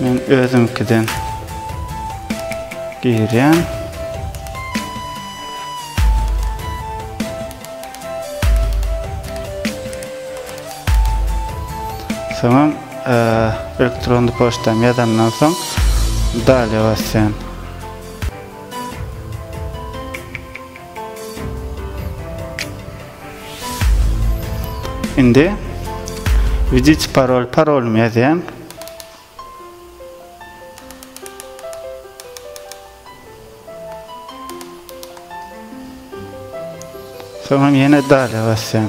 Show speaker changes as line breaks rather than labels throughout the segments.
Men özümkiden girýän. Soňam e, elektron poçtam ýazandan soň dalýa basýan. Indi Widit parol parolumy ýazýan. Soňra ýene dale basýan.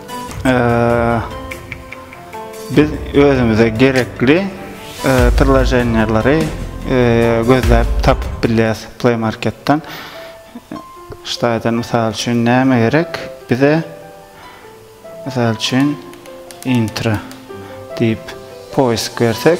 Biz özümize gerekli priloženýalary gözläp tapyp bilýäs Play Marketden. Ştaýdan mysal üçin näme gerek? Bize mysal üçin intro diýip poisk bersek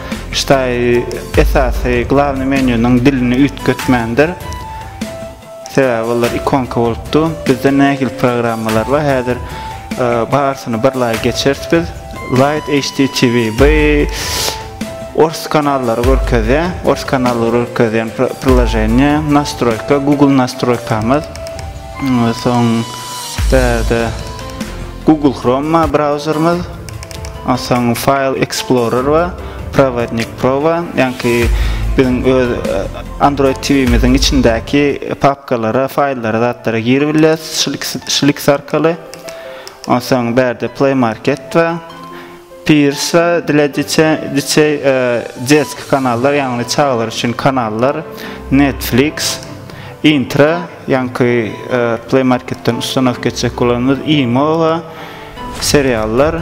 Ştaý esasy glavny menýunyň dilini üýtgetmändir. Sebäbi olar ikonka bolupdy. Bizde nähili programmalar bar häzir barysyny bir laý geçeris biz. Light HDTV bu ors kanallary görkezýä. Ors kanallary görkezýän priloženiýa. Nastroýka Google nastroýkamyz. Soň bärde Google Chrome bar brauzerimiz. Onsoň File Explorer we Prowadnik Pro we ýaňky biziň öz Android TV-miziň içindäki papkalara, faýllara, zatlara girip bilýäs şul ikisi arkaly. Onsoň bärde Play Market we Peers we dilediçe diçe desk kanallar, ýagny çagalar üçin kanallar, Netflix, Intra, ýaňky Play Marketden ustanowka etjek bolanymyz Imo we seriallar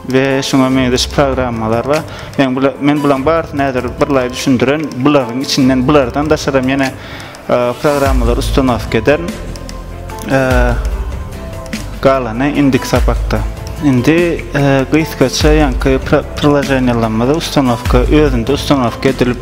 we şuňa meňzeş programmalar bar. Men bula men bulaň barysyny häzir birlaý düşündiren, bularyň içinden bulardan daşaram ýene programmalary ustanowka ederin. Galany indik sapakda. Indi gysgaça ýaňky priloženiýalarymyzy ustanowka özünde ustanowka edilip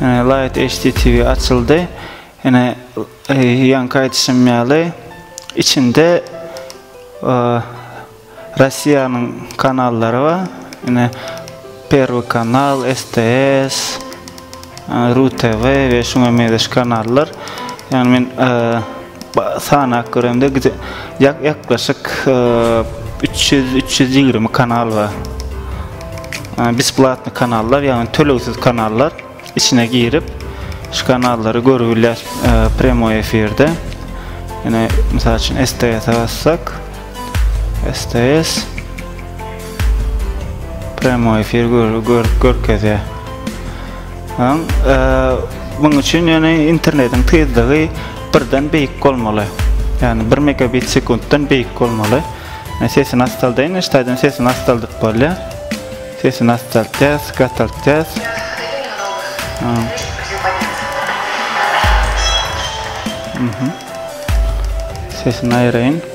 Ene Light HD TV açyldy. Ene ýanky aýdyşym ýaly içinde Russiýanyň kanallary bar. Ene Perwy kanal, STS, RuTV we şuňa meňzeş kanallar. Ýagny men sanap göremde gide ýak ýaklaşyk 300-320 kanal bar. Besplatny kanallar, ýagny tölegsiz kanallar içine girip şu kanallary görüp bilýär premýer efirde. Ýene mysal üçin STS-e bassak, STS Premo efir gör, gör, görkezýär. Aň, e, muň üçin ýöne internetiň tizligi birden beýik bolmaly. Ýani 1 megabit sekuntdan beýik bolmaly. Men sesini astaldaýyn, ştaýdan sesini astaldyp bolýar. Sesini astaltýas, gataltýas. Aň. Mhm. Sesini aýraýyn.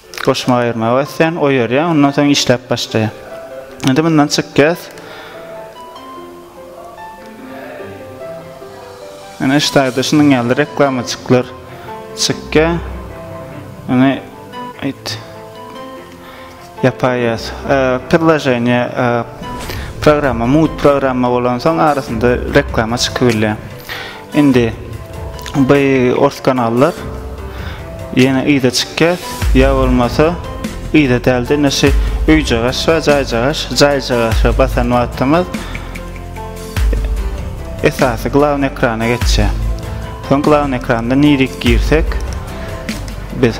Goşma aýyrmagy basýan, oýarýan, ondan soň işläp başlaýan. Indi mundan çykýas. Ana şu taýda şunuň ýaly reklamajyklar çykýa. Ana aýt. Ýapaýas. Pillajeniýe programma, mut programma bolan soň arasynda reklama çykyp bilýär. Indi by ors kanallar ýene yza çykýas ýa bolmasa yza dälde indi şy öýjagaş we jaýjagaş jaýjagaşa basan wagtymyz esasy glavny ekrana geçýär. Soň glavny ekranda nirik girsek biz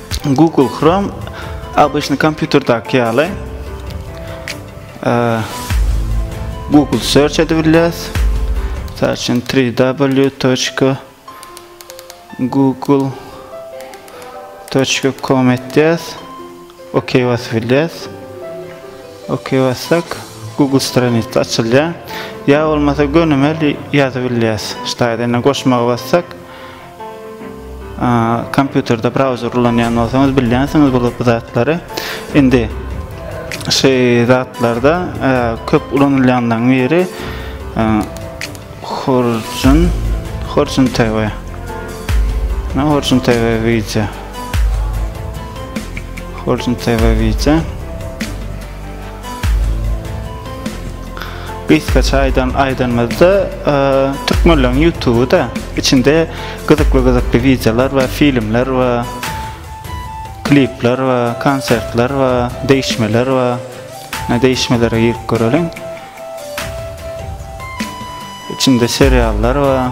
Google Chrome obýçny kompýuterdaky ýaly Google search edip bilýäs. Mysal üçin www.google.com etýäs. OK basyp bilýäs. OK bassak Google stranitsa açylýar. Ýa bolmasa gönümel ýazyp bilýäs. Ştaýda indi goşmaga bassak Kompýuterde brauzer ulanýan bolsaňyz bilýänsiňiz bu zatlary. Indi şu zatlarda e, köp ulanylýanlaryň biri e, Horjun Horjun TV. Ne Horjun TV video. Horjun TV video. Gysgaça aýdan aýdanymyzda türkmenleriň YouTube da içinde gyzykly gyzykly wideolar we filmler we klipler we konsertler we değişmeler we ne değişmelere girip göreliň. İçinde seriallar we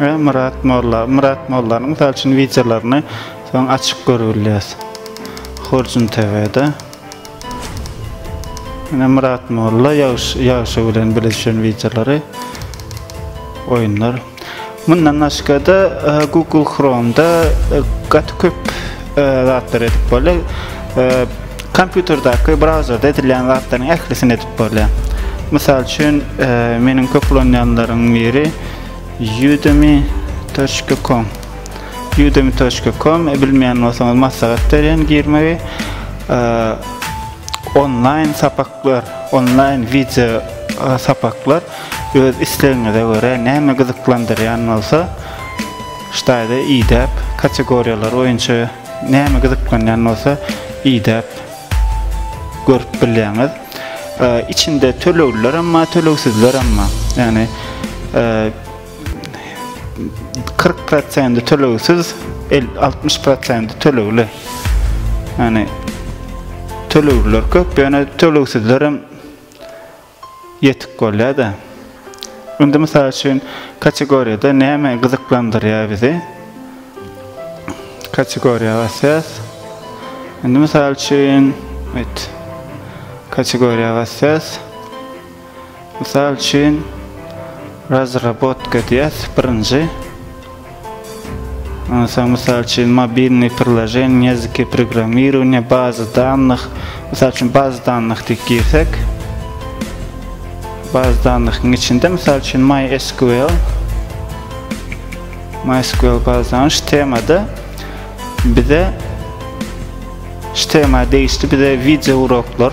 Ä Myrat molla, Myrat mollanyň mysal üçin wideolaryny soň açyp görüp bilýäs. Horjun TV-de. Ine Myrat molla ýagşy ýagşy bilen bile düşen wideolary, oýunlar. Mundan başga-da Google Chrome-da gaty köp zatlar edip bolýar. Kompýuterdäki brauzerde edilýän zatlaryň ählisini edip bolýar. Mysal üçin, meniň köp ulanýanlaryň biri Udemy .com udemy.com e, bilmeýän bolsaňyz maslahat berýän girmegi onlaýn sapak Gör, onlaýn wideo sapaklar öz islegiňize görä näme gyzyklandyrýan bolsa, ştaýda idäp, kategoriýalar boýunça näme gyzyklanýan bolsa idäp görüp bilýäňiz. Içinde tölegliler hem bar, tölegsizler hem bar. Ýagny 40 prosenti tölegsiz, 60 prosenti tölegli. Yani tölegler köp, yani tölegsizler hem yetik bolýar da. Indi mysal üçin kategoriyada näme gyzyklandyrýar bizi? Kategoriýa basýas. Indi mysal üçin, evet. Kategoriýa basýas. Mysal üçin, razrabotka diýýäs, birinji. Ondan soň, mysal üçin, mobilnyý priloženiýa, ýazyky programmirowaniýa, baza dannych. Mysal üçin, baza dannych diýip girsek, baza dannyhyň içinde, mysal üçin, MySQL, MySQL baza dannyh, şu temada bize şu tema degişli bize wideo uroklar,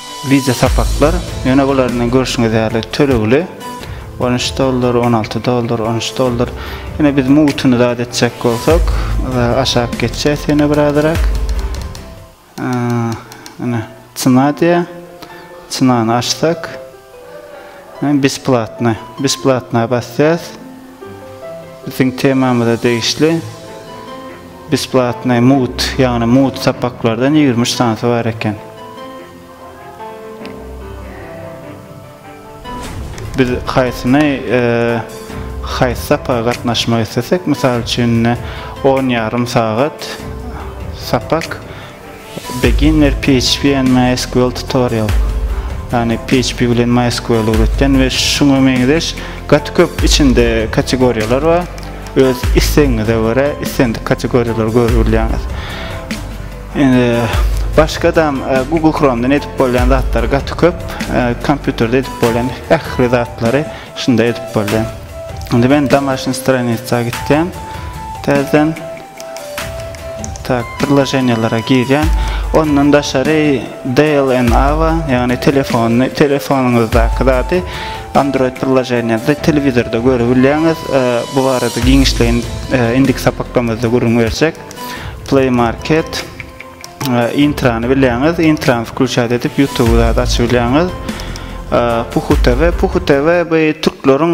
Wideo sapaklar ýöne bular indi görşüňiz ýaly tölegli on üç dollar on alty dollar on üç dollar ýöne biz mugutyny zat etjek bolsak aşak geçýäs ýöne birazyrak ýöne çyna diýä çynany açsak besplatny besplatna basýas biziň temamyza degişli Besplatnoý mugt, ýagny mugt sapaklardan ýigrimi üç sanysy bar eken. Biz haýsyny, haýsy sapaka gatnaşmak islesek, mysal üçin, indi on ýarym sagat sapak. Beginner PHP and MySQL Tutorial, ýagny PHP bilen MySQL öwretýän we şuňa meňzeş gaty köp içinde kategoriýalar bar. Öz islegiňize görä islendik kategoriýalary görüp bilýäňiz. Indi başgadam Google Chrome'dan edip bolýan zatlary gaty köp. Kompýuterde edip bolýan ähli zatlary şunda edip bolýar. Indi men Domaşnyý stranitsa gitýän täzeden. Tak, priloženiýalara girýän. Ondan daşary DLNA-a, ýagny telefony, telefonyňyzdaky zady Android priloženiýasy telewizorda göre bilýäňiz. Bu barada giňişleýin indiki sapaklarymyzda gürrüň berjek. Play Market, Intrany bilýäňiz. Intrany wklýuçat edip YouTube zady açy bilýäňiz. Puhu TV, Puhu TV bu türkleriň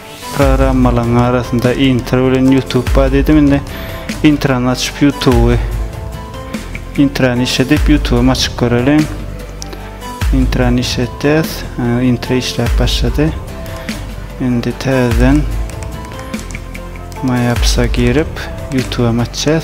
programmalaryň arasynda intro bilen youtube bar diýdim indi intrany açyp youtube intrany işledip youtube açyp göreliň intrany işletýäs intro işläp başlady indi täzeden mayapsa girip youtube açýas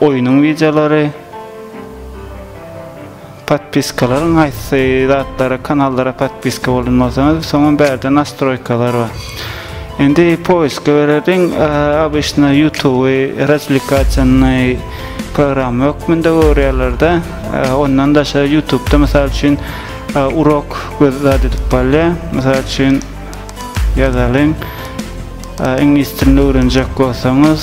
Oýnuň wideolary Podpiskalaryň haýsy zatlara kanallara podpiska bolan bolsaňyz soňam bärde nastroýkalar bar. Indi poiska bererdiň abyşna ýutuby razwlikasyonnyý program hökmünde görýärlerde ondan daşary ýutubda mysal üçin urok göz zat edip galýa mysal üçin ýazalyň iňlis dilini öwrenjek bolsaňyz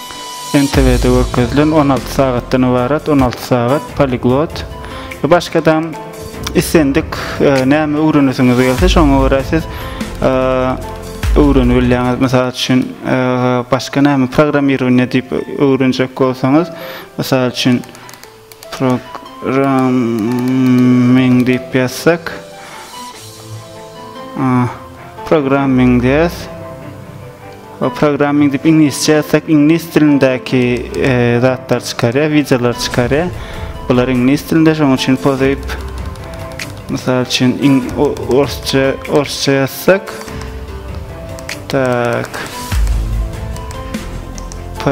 NTW-de görkezilen on alty sagatdan ybarat on alty sagat poliglot we başgadam islendik näme öwrenesiňiz gelse şoňa görä siz öwrenip bilýäňiz mysal üçin başga näme programmirowaniýe diýip öwrenjek bolsaňyz mysal üçin Programming diýip ýazsak. Programming diýäs. O programming diýip iňlisçe ýazsak, iňlis dilindäki e, zatlar çykarýar, wideolar çykarýar. Bular iňlis dilinde, şonuň üçin pozyp Mysal üçin in orsça orsça ýazsak. Tak. P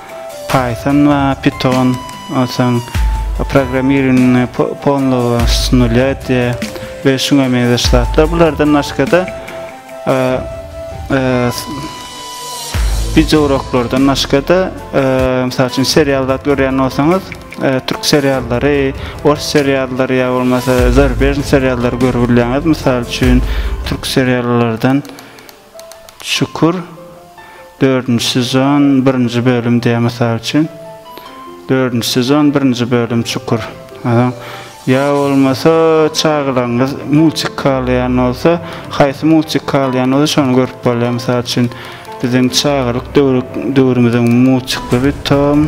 Python we Python onsoň programmiringi polnogo s nulýa diýe we şuňa meňzeş zatlar bulardan başgada wideo uroklardan başgada mysal üçin serial zat görýän bolsaňyz türk seriallary ors seriallary ýa bolmasa zarbežn seriallary görüp bilýäňiz mysal üçin türk seriallardan Şükür dördünji sezon birinji bölüm diýýär mysal üçin. Dördünji sezon birinji bölüm Şükür. Adam ýa bolmasa çagalaryňyz multik halaýan bolsa, haýsy multik halaýan bolsa şony görüp bolýar. Mysal üçin biziň çagalyk döwrümiziň multiklary tam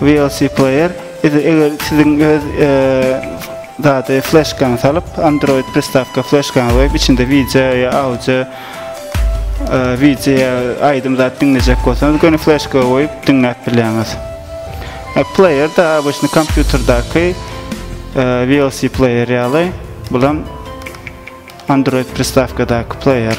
VLC Player Idi eger siziň öz zady flashkaňy salyp, Android pristawka flashkaňy goýup, içinde wideo ýa audio wideo aýdym zat diňlejek bolsaňyz, göni flashka goýup diňläp bilýäňiz. Player da abyşny kompýuterdaky VLC player ýaly, bulam Android pristawkadaky player.